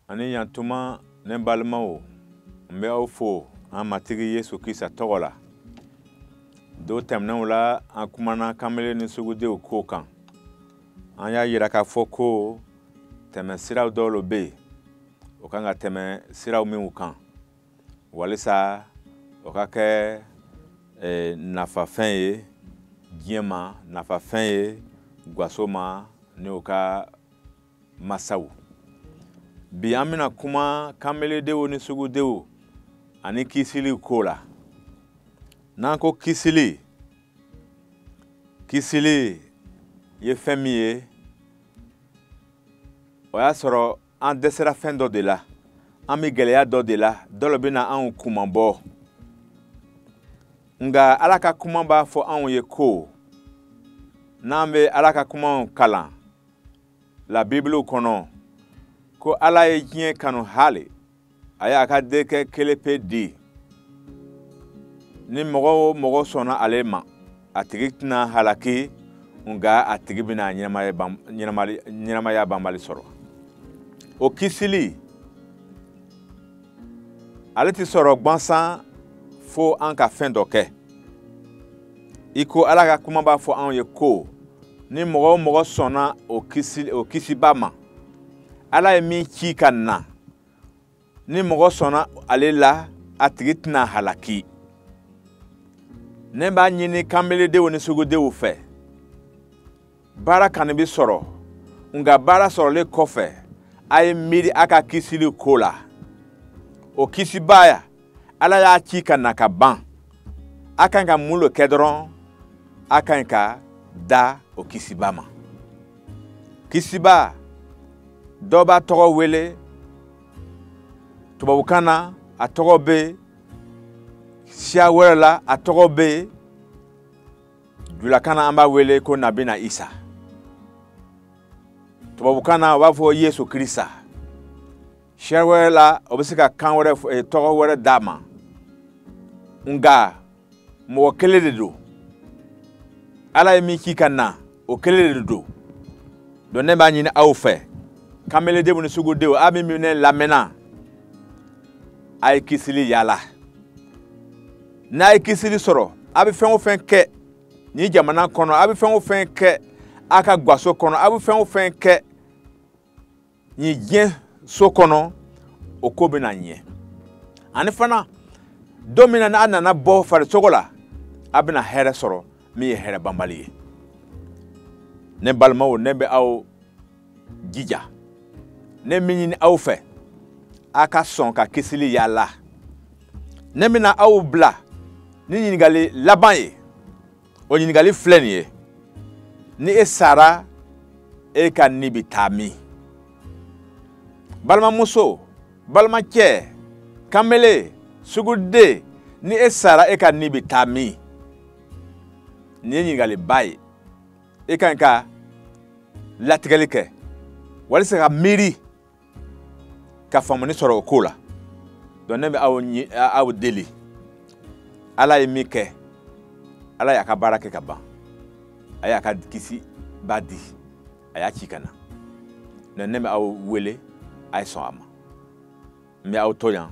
ani yantuma ne balimaw n bɛ aw fo an matigi yesu krista tɔgɔ la don tɛmɛnenw la an kumana kamele ni sugudenw ko kan an y'a yira k'a fɔ ko tɛmɛ siraw dɔw lo bɛ yen o kan ka tɛmɛ siraw minw kan walisa o ka kɛ eh, nafafɛn ye diɲɛ ma nafafɛn ye gwaso ma ni o ka masaw bi an bɛna kuma kanbeledenw ni sugudenw ani kisili ko la n'an ko kisili kisili ye fɛn min ye o y'a sɔrɔ an dɛsɛra fɛn dɔ de la an bɛ gɛlɛya dɔ de la dɔ lo bɛna anw kunmabɔ nka ala ka kuma b'a fɔ anw ye ko n'an bɛ ala ka kumaw kalan la bibulu kɔnɔ ko ala ye diɲɛ kanu hali a y'a ka denkɛ kelenpe di ni mɔgɔ o mɔgɔ sɔnna ale ma a tigi tɛna halaki nka a tigi bɛna ɲɛnamaya banbali sɔrɔ o kisili ale tɛ sɔrɔ gwansan fo an ka fɛn dɔ kɛ i ko ala ka kuma b'a fɔ anw ye ko ni mɔgɔ o mɔgɔ sɔnna o kisi o kisiba ma ala ye min ci ka na ni mɔgɔ sɔnna ale la a tigi tɛna halaki ne b'a ɲini kanbeledenw ni sugudenw fɛ baara kɔni bɛ sɔrɔ nka baara sɔrɔlen kɔfɛ a ye miiri a ka kisili ko la o kisibaya ala y'a ci ka na ka ban a kan ka mun lo kɛ dɔrɔn a kan ka da o kisiba ma kisiba dɔ b'a tɔgɔ wele tubabukan na a tɔgɔ bɛ siya wɛrɛ la a tɔgɔ bɛ julakan na an b'a wele ko nabina isa tubabukan na o b'a fɔ yesu krista siya wɛrɛ la o bɛ se ka kan wɛrɛ eh, tɔgɔ wɛrɛ d'a ma nka mɔgɔ kelen de don ala ye min ci ka na o kelen de don donc ne b'a ɲini aw fɛ kameledenw ni sugudenw aw min ne lamɛnna a ye kisili yaala n'a ye kisili sɔrɔ a bɛ fɛn o fɛn kɛ nin jamana kɔnɔ a bɛ fɛn o fɛn kɛ a ka gwaso kɔnɔ a bɛ fɛn o fɛn kɛ nin diɲɛ so kɔnɔ o ko bɛna ɲɛ ani fana don min na n'a nana bɔ farisogo la a bɛna hɛrɛ sɔrɔ min ye hɛrɛ banbali ye ne balimaw ne bɛ aw jija ne min ɲini aw fɛ a ka sɔn ka kisili yaala ne bɛna aw bila ni ɲininkali laban ye o ɲininkali filɛ nin ye ni e sara e ka ni bɛ taa min balimamuso balimacɛ kanbele suguden ni e sara e ka ni bɛ taa min nin ye ɲininkaliba ye e ka ɲi ka latigɛli kɛ walisa ka miiri ka faamuni sɔrɔ o ko la donc ne bɛ aw deli ala ye min kɛ ala y'a ka baara kɛ ka ban a y'a ka kisibaa di a y'a ci ka na donc ne bɛ aw wele a ye sɔn a ma n bɛ aw to yan